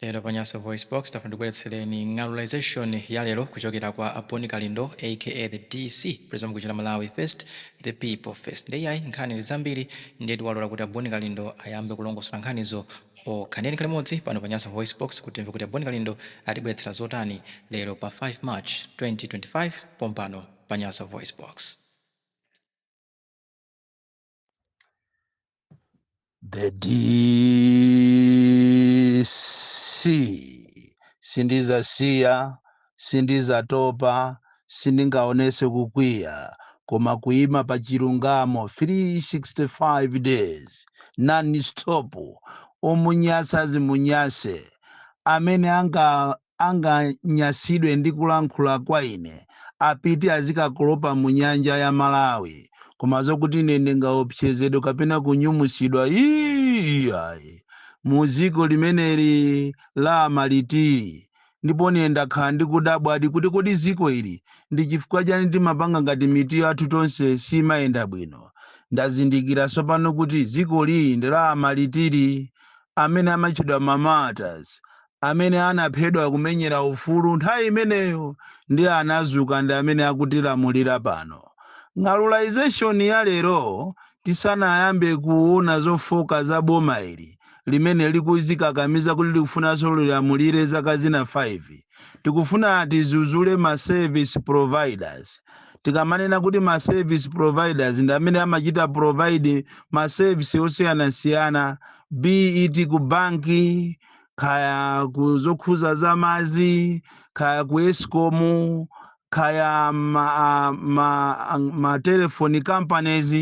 Lero pa Nyasa VoiceBox, tafuna tibweretsereni ng'alulization ya lero kuchokera kwa a Boni Kalindo aka the DC president wa mukuchita Malawi first, the people first. Nde iyayi nkhani ndi zambiri ndiye tiwalola kuti a Boni Kalindo ayambe kulongosola nkhanizo okha. Ndiye tikhale limodzi pano pa Nyasa VoiceBox kuti timve kuti a Boni Kalindo atibweretsera zotani lero pa 5 March 2025 pompano pa Nyasa VoiceBox. the DC sindizasiya sindizatopa sindingaonese kukwiya koma kuima pa chilungamo 365 days non stop omunyasa zimunyase amene anga anganyasidwe ndi kulankhula kwa ine apite azikakolopa mu nyanja ya malawi koma zokuti ine ndingaopsezedwe kapena kunyumusidwa iyayi mu dziko limeneli la amaliti ndipo ine ndakhala ndikudabwadi kuti kodi dziko ili ndi chifukwa chani timapanga ngati mitu yathu tonse simayenda bwino ndazindikira tsopano kuti dziko ili ndi la amalitiri amene amatchedwa mamatas amene anaphedwa kumenyera ufulu nthawi imeneyo ndi anazuka ndi amene akutilamulira pano. Ng'alulization ya lero tisanayambe kuona zofooka za boma ili limene likuzikakamiza kuti likufunanso lilamulire zaka zina 5. Tikufuna tizuzule ma service providers. Tikamanena kuti ma service providers ndi amene amachita provide ma service osiyanasiyana be it ku banki, kaya ku zokhuza za madzi kaya ku escom kaya ma, ma, ma telefoni companies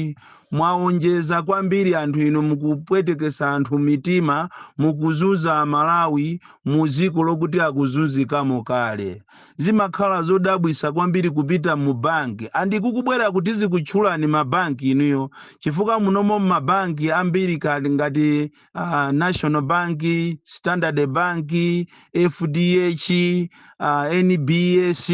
mwaonjeza kwambiri anthu inu mukupwetekesa anthu m'mitima mukuzunza amalawi mu dziko lokuti akuzunzikamo kale zimakhala zodabwisa kwambiri kupita mu banki and kukubwera kuti zikutchulani mabanki inuyo chifukwa munomo mabanki ambiri kaya ngati uh, national bank standard bank fdh uh, nbs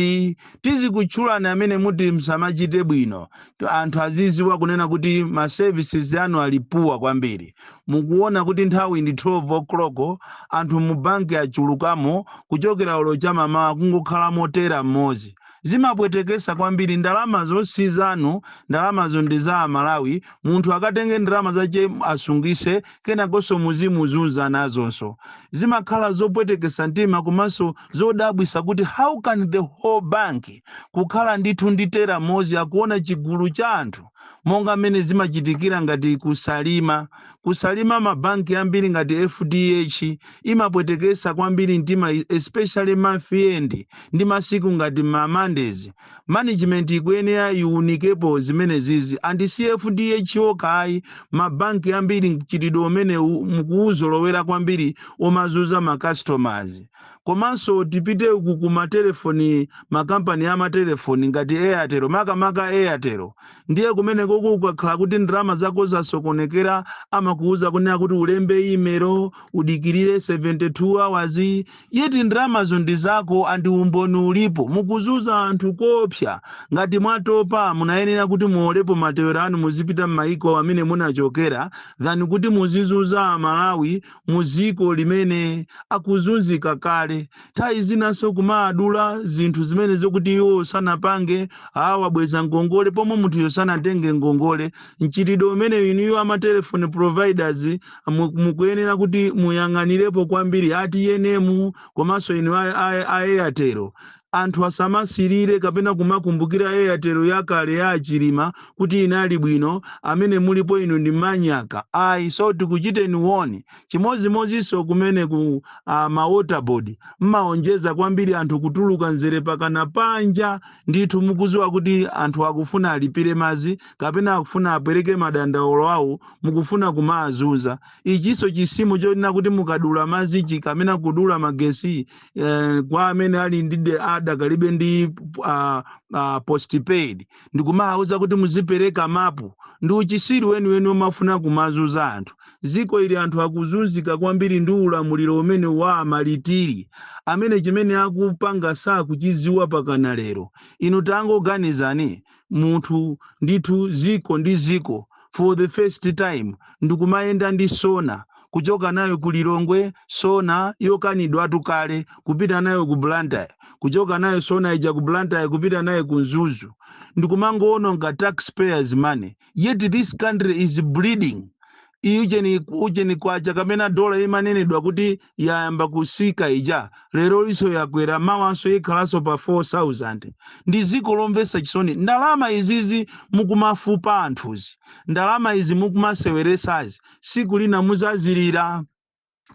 tizikutchulani amene muti musamachite bwino To- anthu aziziwa kunena kuti ma services anu ali poor kwambiri mukuona kuti nthawi ndi 12 o'clock anthu mu banki achulukamo kuchokera olo chamamawa kungokhala mo teller mmodzi Zimapwetekesa kwambiri ndalamazo si zanu ndalamazo ndi za amalawi munthu akatenge ndalama zache asungise kenakonso muzimuzunza nazonso zimakhala zopwetekesa mtima komanso zodabwisa kuti how can the whole bank kukhala ndithu ndi teller mmozi akuona chigulu cha anthu monga mmene zimachitikira ngati kusalima kusalima mabanki ambiri ngati fdh imapwetekesa kwambiri mtima especially month end ndi masiku ngati ma mondays management ikuyenera iunikepo zimenezizi and si fdh okha ayi mabanki ambiri mchitidwe umenewu mukuuzolowera kwambiri omazuza ma customers Komanso tipite uku ku matelefoni, makampani a matelefoni ngati Airtel, makamaka Airtel. Ndiye kumenekoko ukakhala kuti ndalama zako zasokonekera, amakuuza kunena kuti ulembe email, udikirire 72 hours, yet ndalamazo ndi zako and umboni ulipo. Mukuzuza anthu koopsa. Ngati mwatopa, munayenera kuti muolepo matewero anu muzipita m'mayiko amene munachokera than kuti muzizuza Amalawi mu ziko limene akuzunzika kale nthawi zinanso kumaadula zinthu zimene zokuti iwo sanapange awabweza ngongole pomwe munthuyo sanatenge ngongole mchitidwe umenewu inuyo amatelefoni providers mu- mukuyenera kuti muyang'anirepo kwambiri a TNM komanso inu a- a- a airtel Anthu asamasirire kapena kumakumbukira Airtel yakale ya a Chilima kuti inali bwino, amene mulipo inu ndi manyaka ayi so tikuchiteni warn. Chimozimozinso kumeneku a ma water board mmaonjeza kwambiri anthu kutuluka mzere pakana panja ndithu mukuziwa kuti anthu akufuna alipire mazi kapena akufuna apereke madandaulo awo mukufuna kumaazuza. Ichinso chisimo chonena kuti mukadula mazichi kamena kudula magesi eh, kwa amene ali ndi de- adakalibe ndi uh, uh, postpaid ndikumawauza kuti muzipereka mapu ndi uchisiru wenuwenu omafuna kumazuza anthu ziko ili anthu akuzunzika kwambiri ndi ulamuliro umene wa amalitiri amene chimene akupanga sakuchiziwa pakana lero inu tangoganizani munthu ndithu ziko ndi ziko for the first time ndikumayenda ndi sona kuchoka nayo ku lilongwe sona yokanidwatu kale kupita nayo ku blantyre kuchoka nayo sona ija ku blantyre kupita nayo ku mzuzu ndikumangowononga taxpayers money yet this country is bleeding ujeni ujeni kwacha kapena dola imanenedwa kuti yayamba kusika ija lero liso yakwera mawanso ikhalanso pa 4000 ndi ziko lomvesa chisoni ndalama izizi mukumafupa anthuzi ndalama izi mukumaseweresazi siku lina muzazilira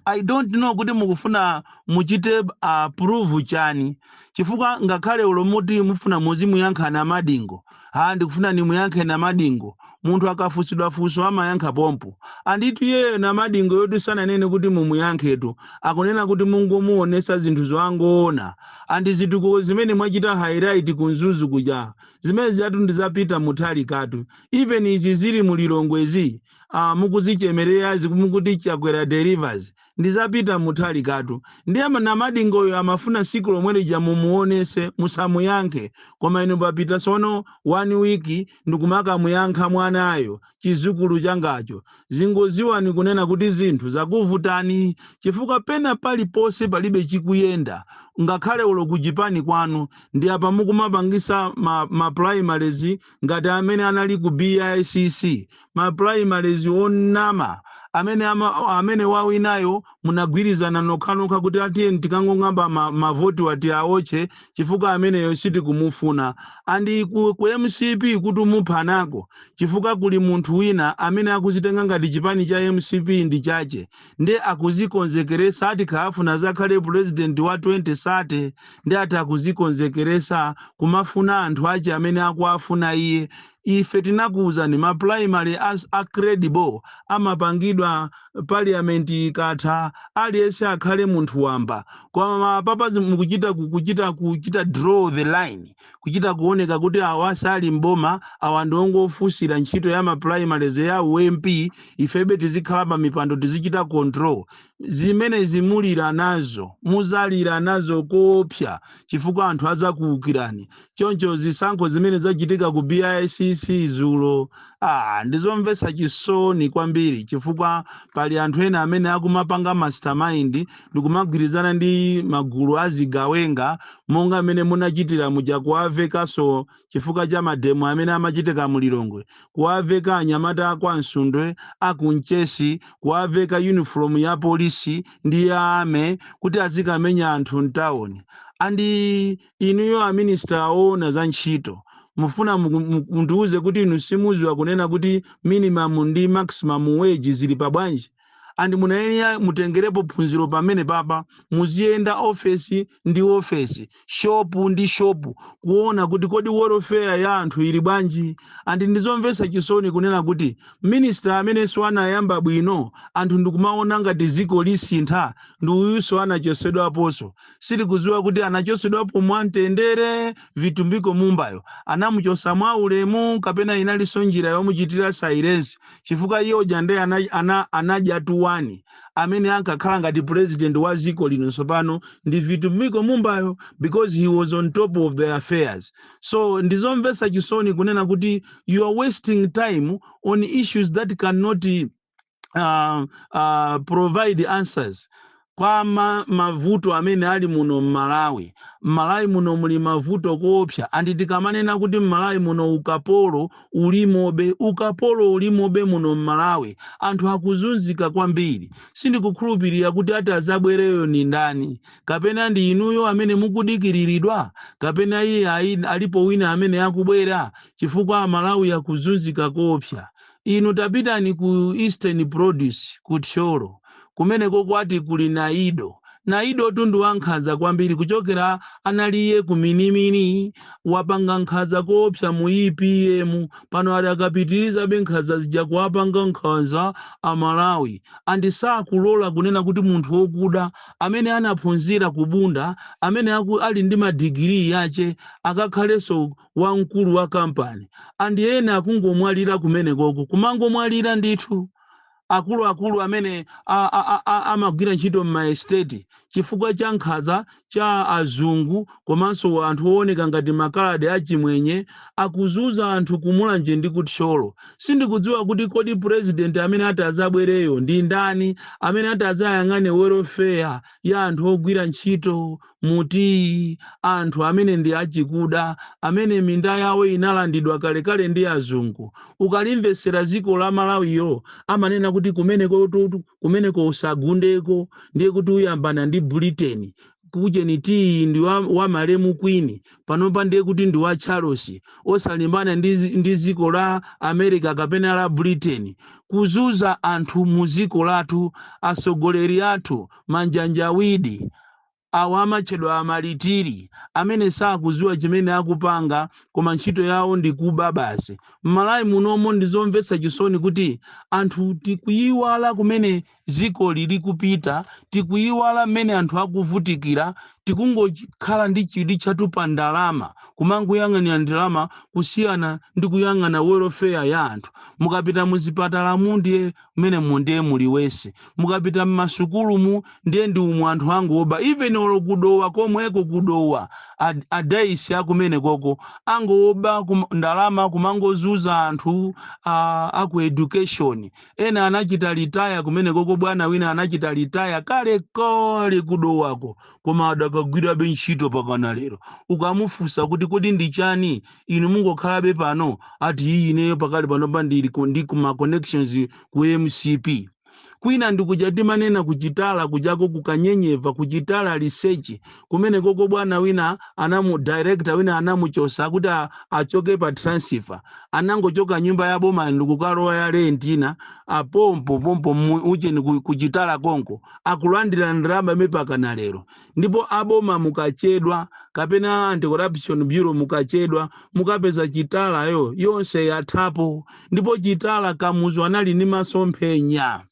i don't know kuti mukufuna muchite approve chani chifukwa ngakhale ulo muti mufuna muzimuyankha namadingo ha ndikufuna nimuyankhe namadingo munthu akafunsidwa funso amayankha pompo anditu iyeyo namadingoyotu sananene kuti mumuyankhetu akunena kuti mungomuonesa zinthu zoangoona andi zitukuko zimene mwachita highlight ku mzuzu kuja zimene zijatu ndi za peter mutharikatu even izi zili mu lilongwezi ah, mukuzichemererazi mukuti chakwera delivers ndi za peter mutharikatu ndiye ma- namadingoyo amafuna siku lomwe lija mumuonese musamuyankhe koma inu papita sono one week ndikumakamuyankha mwanayo chizukulu changacho zingoziwani kunena kuti zinthu zakuvutani chifukwa pena paliponse palibe chikuyenda ngakhale ulo kuchipani kwanu ndi apa mukumapangisa ma, ma primaries ngati amene anali ku bicc ma primaries onama amene ama, amene wawinayo munagwirizana nokhanokha kuti atiyeni tikangong'amba ma, mavotiwa tiaotche chifukwa ameneyo sitikumufuna andi ku, ku mcp kuti muphanako chifukwa kuli munthu wina amene akuzitenga ngati chipani cha mcp ndi chache nde akuzikonzekeresa ati akufuna azakhale pulezidenti wa 2030 nde ati akuzikonzekeresa kumafuna anthu ache amene akuafuna iye ife tinakuuzani ma primaries a credible amapangidwa parliament ikatha aliyense akhale munthu wamba koma papazi mukuchita kukuchita kuchita draw the line kuchita kuoneka kuti awa sali m'boma awa ndi ongofunsira ntchito ya ma primaries ya u mp ifebe tizikhala pa mipando tizichita control zimenezi mulira nazo muzalira nazo koopsa chifukwa anthu adzakuukirani choncho zisankho zimene zachitika ku bicc zulo ah, ndizomvetsa chisoni kwambiri chifukwa pali anthu ena amene akumapanga mastermind ndikumagwirizana ndi magulu a zigawenga monga mmene munachitira muja kuwavekanso chifukwa cha mademo amene amachitika mu lilongwe kuwaveka anyamata a kwa msundwe a ku mchesi kuwaveka yunifomu ya polisi ndi ya army kuti azikamenya anthu mtawuni andi inuyo aminisita oona za ntchito mufuna muku- mu- mundiwuze kuti inu simuziwa kunena kuti minimum ndi maximum wage zili pa bwanji and munayenera mutengerepo phunziro pamene papa muziyenda ofesi ndi ofesi shopu ndi shopu kuona kuti kodi welfare ya anthu ili bwanji and ndizomvetsa chisoni kunena kuti minista amenenso anayamba bwino anthu ndikumaona ngati ziko lisintha ndi uyunso anachosedwaponso sitikudziwa kuti anachosedwapo mwamtendere vitumbiko mumbayo anamuchosa mwa ulemu kapena inalinso njira yomuchitira silence chifukwa iye uja ndiye ana, ana, analitu one amene ankakhala ngati president wa dziko lino tsopano ndi Vitumbiko Mumbayo because he was on top of the affairs so ndizomvetsa chisoni kunena kuti you are wasting time on issues that cannot uh, uh, provide answers kwa ma, mavuto amene ali muno m'malawi m'malawi muno muli mavuto koopsa and tikamanena kuti m'malawi muno ukapolo ulimobe ukapolo ulimobe muno m'malawi anthu akuzunzika kwambiri sindikukhulupirira kuti ati azabwereyo ndi ndani kapena ndi inuyo amene mukudikiriridwa kapena iye a- alipo wina amene akubwera chifukwa amalawi akuzunzika koopsa Inu tapitani ku Eastern Produce ku Thyolo kumeneko kwati kuli Naido. Naidotu ndi wankhanza kwambiri kuchokera anali iye ku Minimini wapanga nkhanza koopsa mu EPM pano adakapitirizabe nkhanza zija kuwapanga nkhanza a Malawi and sakulola kunena kuti munthu wokuda amene anaphunzira ku Bunda amene aku, ali ndi madigiri yache akakhalenso wamkulu wa kampani and ena akungomwalira kumeneko kumangomwalira ndithu akuluakulu amene a- a- a- a- amagwira ntchito m'maesiteti chifukwa cha nkhaza za azungu komanso anthu ooneka ngati makaladi achimwenye akuzuza anthu kumulanje ndi kuthyolo sindikudziwa kuti kodi purezidenti amene ati azabwereyo ndi ndani amene ati azayang'ane welfare ya anthu ogwira ntchito mu tiyi, anthu amene ndi achikuda, amene minda yawo inalandidwa kalekale ndi azungu. Ukalimvetsera dziko la Malawiyo amanena kuti kumeneko tutu, kumeneko usagundeko, ndiye kuti uyambana ndi Britain. Kujeni tiyi ndi wa, wa malemu Queen, panopa ndiye kuti ndi wa Charles. Osalimbana ndi, zi- ndi dziko la America kapena la Britain. Kuzuza anthu mu dziko lathu, atsogoleri athu, manjanjawidi. Awa amatchedwa amalitiri amene sakuziwa chimene akupanga koma ntchito yawo ndi kuba basi. M'Malawi munomo ndizomvetsa chisoni kuti anthu tikuyiwala kumene dzikoli likupita, tikuyiwala mmene anthu akuvutikira, tikungokhala ndi chidwi chathu pa ndalama, kumangoyang'anira ndalama kusiyana ndi kuyang'ana welfare ya anthu. Mukapita muzipatalamu ndiye mmenemo ndiye muli worse mukapita mmasukulumu ndiye ndi umu anthu angoba even olo kudowa komweko kudowa ad- a DC akumeneko angoba kum, ndalama kumangozuza anthu a, aku education ena anachita retire kumeneko bwana wina anachita retire kalekale kudowako koma adakagwirabe ntchito mpakana lero ukamufunsa kuti kodi ndi chani inu mungokhalabe pano ati iyi ineyo pakali panopa ndili ku- ndi kuma connections ku mcp kwina ndikuja timanena ku Chitala kujako kukanyenyeva ku Chitala Research kumene koko bwana wina anamu director wina anamuchosa kuti a- achoke pa transfer anangochoka nyumba ya boma ndikukalowa ya rent ina apompo pompo mu- ujeni ku- ku Chitala konko akulandira ndalama mpaka na lero ndipo aboma mukachedwa kapena anti-corruption bureau mukachedwa mukapeza Chitalayo yonse yathapo ndipo Chitala kamuzu anali ndi masomphenya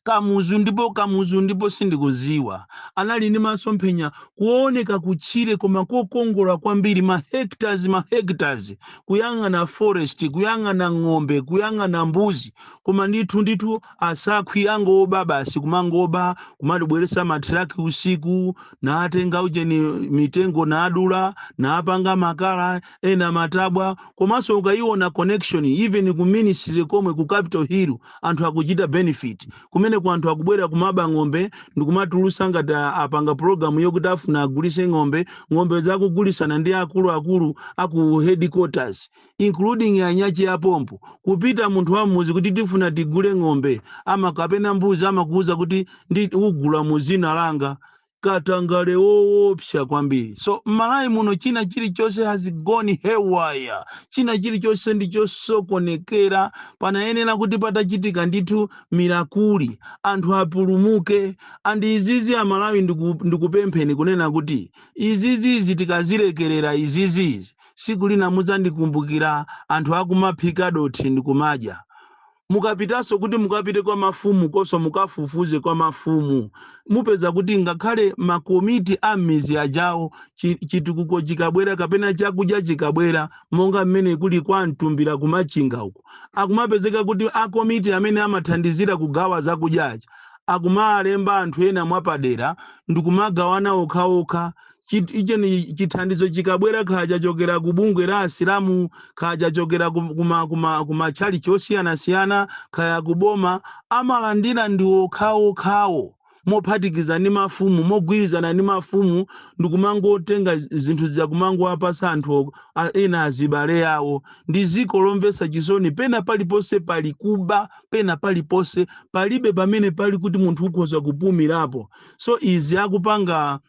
kamuzu ndipo kamuzu ndipo sindikuziwa anali ndi masomphenya kuoneka kutchire koma kokongola kwambiri ma hectares ma hectares kuyang'ana forest kuyang'ana ng'ombe kuyang'ana mbuzi koma ndithu ndithu asakhwi angooba basi kumangoba kumatibweresa matiraki usiku naatenga ujeni mitengo naadula naapanga makala ena matabwa komanso ukayiona connection even ku ministry komwe ku capital hill anthu akuchita benefit kumeneku anthu akubwera kumaba ng'ombe ndikumatulusa ngati a- apanga program yokuti afuna agulise ng'ombe ng'ombe zakugulisana ndi akuluakulu aku headquarters including anyanchi apompo kupita munthu wa m'mudzi kuti tifuna tigule ng'ombe ama kapena mbuzi amakuuza kuti ndi ugula mu zina langa katangale woopsa kwambiri so mmalawi muno china chilichonse has gone haywire china chilichonse ndi chosokonekera panayenera kuti patachitika ndithu mirakuli anthu apulumuke and izizi amalawi ndiku- ndikupempheni kunena kuti izizizi tikazilekerera izizizi siku lina muzandikumbukira anthu akumaphika dothi ndikumadya. Mukapitaso kuti mukapite kwa mafumu konso mukafufuze kwa mafumu mupeza kuti ngakhale ma komiti a mmizi ajawo chi- chitukuko chikabwera kapena chakudya chikabwera monga mmene kuli kwa mtumbira ku Machinga uko akumapezeka kuti a komiti amene amathandizira kugawa zakudya aja akumalemba anthu ena mwapadera ndikumagawana okhaokha chit- ujeni chithandizo chikabwera kaya chachokera ku bungwe la asilamu kaya chachokera ku- kuma kuma kumatchalichi osiyanasiyana kaya kuboma amalandira ndi okhaokhawo mophatikiza ndi mafumu mogwirizana ndi mafumu ndikumangotenga zi- zinthu zija kumangowapasa anthu o- a- ena azibale awo ndi ziko lomvesa chisoni pena paliponse pali kuba pena paliponse palibe pamene pali kuti munthu ukhoza kupumirapo so izi akupanga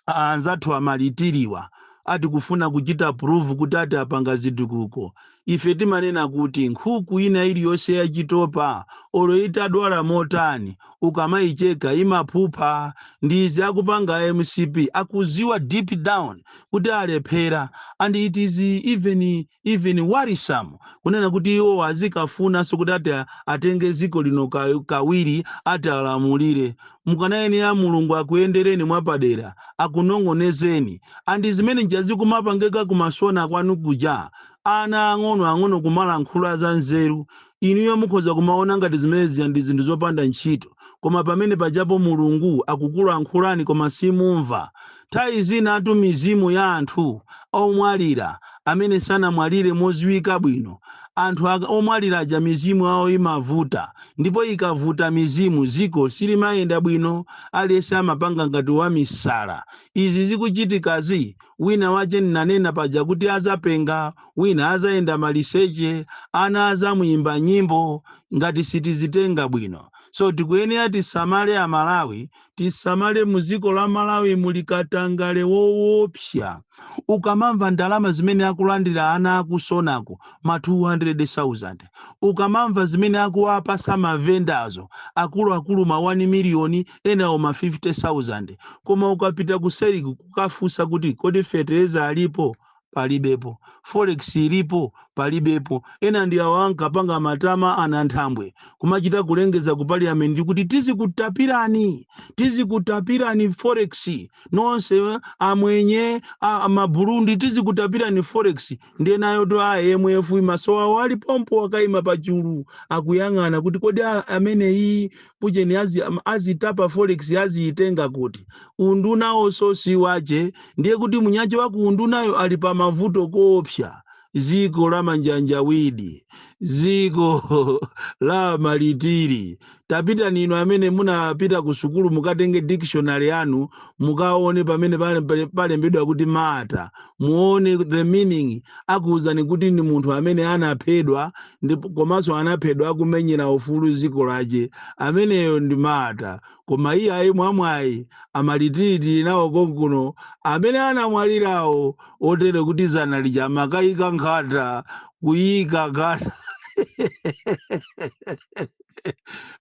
a- anzathu amalitiriwa ati kufuna kuchita prove kuti ati apanga zitukuko ife timanena kuti nkhuku ina iliyonse yachitopa olo itadwala motani ukamayicheka imaphupha ndi izi akupanga mcp akuziwa deep down kuti alephera and it is even even worrisome kunena kuti iwo azikafunanso kuti ati a- atenge dziko lino ka- kawiri ati alamulire mukanayenera mulungu akuyendereni mwapadera akunong'onezeni and zimene nja zikumapangeka kumasana kwanu kuja ana ang'ono ang'ono kumalankhula za nzeru Inuyo mukhoza kumaona ngati zimene zija ndi zinthu zopanda ntchito, koma pamene pajapo Mulungu akukulankhulani koma simumva. Nthawi zinatu mizimu ya anthu omwalira, amene sanamwalire moziwika bwino, anthu aka, omwalira aja mizimu yawo imavuta, ndipo ikavuta mizimu, ziko silimayenda bwino, aliyense amapanga ngati wamisala. Izi zikuchitikazi, wina wache ndinanena paja kuti adzapenga, wina azayenda maliseche ana azamuyimba nyimbo ngati sitizitenga bwino so tikuyenera tisamale amalawi tisamale muziko la malawi muli katangale woopsa ukamamva ndalama zimene akulandira ana akusonako ma 200,000 ukamamva zimene akuwapasa mavendazo akuluakulu ma 1 miliyoni enawo ma 50,000 koma ukapita kuseliku kukafusa kuti kodi fetereza alipo palibepo forex ilipo palibepo ena ndi awa ankapanga matama a nanthambwe kumachita kulengeza ku parliament kuti tizikutapirani tizikutapirani forex nonse eh, amwenye a- a maburundi tizikutapirani forex ndiye nawo a imf maso awo ali pompo akaima pachulu akuyang'ana kuti kodi a- ameneyi ujeni azi, am- azitapa forex aziitenga kuti undunawonso si wache ndiye kuti munyache wa ku undunayo ali pa mavuto koopsa ziko la manjanjawidi ziko la malitiri tapitani inu amene munapita ku sukulu mukatenge dictionary yanu mukaone pamene pale- pale- palembedwa kuti martyr muone the meaning akuwuzani kuti ni munthu amene anaphedwa ndipo komanso anaphedwa akumenyera ufulu ziko lache ameneyo ndi martyr koma iye ayi mwamwayi amalitiri tili nawo konkuno amene anamwalirawo otere kuti zana lija amakayika nkhata kuyika nkhata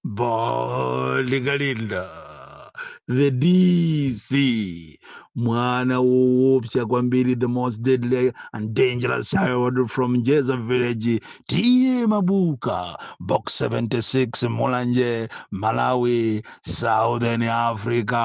Ba likalinda the DC mwana woopsa kwambiri the most deadly and dangerous child from Jeza village tiye mabuka box 76 mulanje malawi southern africa